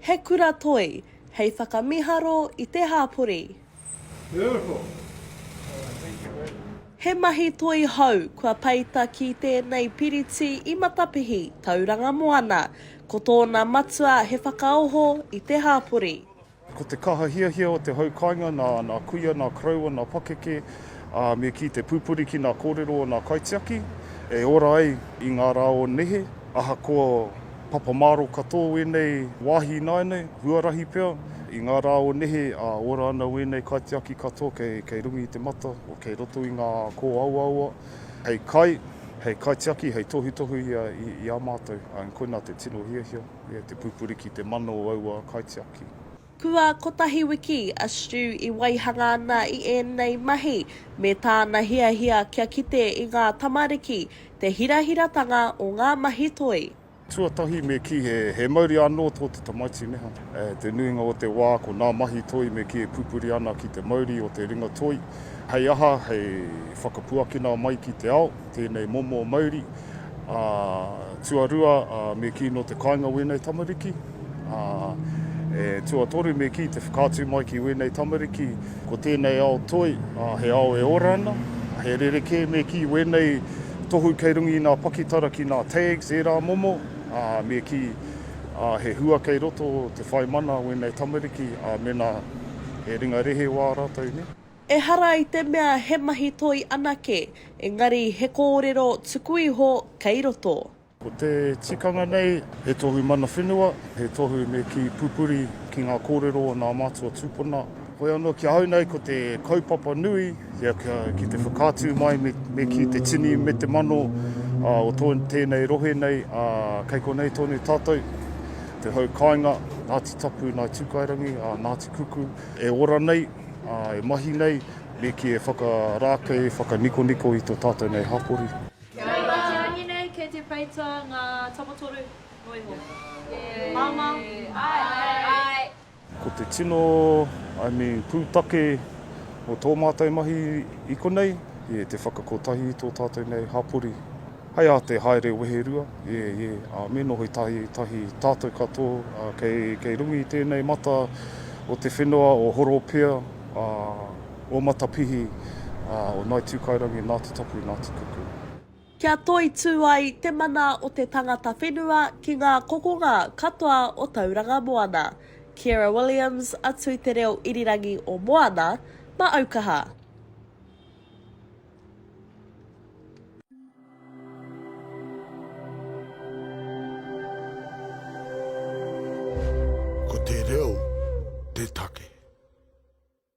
He kura toi hei whakamiharo i te hāpori. Beautiful! He mahi toi hou kua peita ki tēnei piriti i Matapihi, Tauranga Moana. Ko tōna matua he whakaoho i te hāpori. Ko te kaha hiahia o te hau kāinga nā nā kuia, nā koroua, nā pakeke, ā, me kī te pupuri ki nā kōrero o nā kaitiaki e ora ai i ngā rā o nehe, ahakoa papa māro katoa wēnei wāhi ināianei, huarahi pea, i ngā rā o nehe, ā, ora ana wēnei kaitiaki katoa kei, kei runga i te mata, o kei roto i ngā kōawaawa, hei kai, hei kaitiaki, hei tohutohu i a, i, i a mātou, ā, koinā te tino hiahia. I a Te Pupuri ki te mano o aua kaitiaki. Kua kotahi wiki a Stu i waihanga ana i ēnei mahi me tāna hiahia kia kite i ngā tamariki te hirahiratanga o ngā mahi toi. Tuatahi me kī he mauri anō tō te tamaiti neha. Te nuinga o te wā ko nā mahi toi me kī e pupuri ana ki te mauri o te ringa toi. Hei aha, hei whakapuakina mai ki te ao tēnei momo mauri. Ā, tuarua, ā, me kī nō te kāinga wēnei tamariki, ā, e tuatoru me kī te whakaatu mai ki wēnei tamariki, ko tēnei ao toi, ā, he ao e ora ana, he rerekē me kī wēnei tohu kei runga i ngā pakitara ki ngā tags ērā momo, ā, me kī, ā, he hua kei roto te whai mana a wēnei tamariki, ā, mēnā he ringa rehe wā rātou, nē. Ehara i te mea he mahi toi anake, engari he kōrero tuku iho kei roto. Ko te tikanga nei, he tohu mana whenua, he tohu me kī pupuri ki ngā kōrero o nā mātua tūpuna. Hoi anō ki ahau nei ko te kaupapa nui ki te whakaatu mai me kī te tini me te mano o tēnei rohe nei, ā, kei konei tonu tātou, te hau kāinga, Ngāti Tapu, Ngāi Tūkairangi, Ngāti Kuku, e ora nei. E mahi nei, me kī e whakarākei, whakanikoniko i tō tātou nei hapori. Kia ora Whārangi nei, kei te peita ngā tapotoru noa iho. Māmā? Āe. Ko te tino, I mean, pūtake o tō mātou mahi i konei, te whakakotahi i tō tātou nei hapori. Hai a te haere weherua, e, e, a me noho i tahi, tahi tatou kato, a, kei, kei runga i tenei mata o te whenoa o Horopea, a, o Matapihi, a, o Naitūkairangi, Nātutapu, Nātukuku. Kia toitū ai te mana o te tangata whenua ki ngā kokonga katoa o Tauranga Moana. Kiera Williams, a Tū Te Reo Irirangi o Moana, Maaukaha. Ko te reo te take.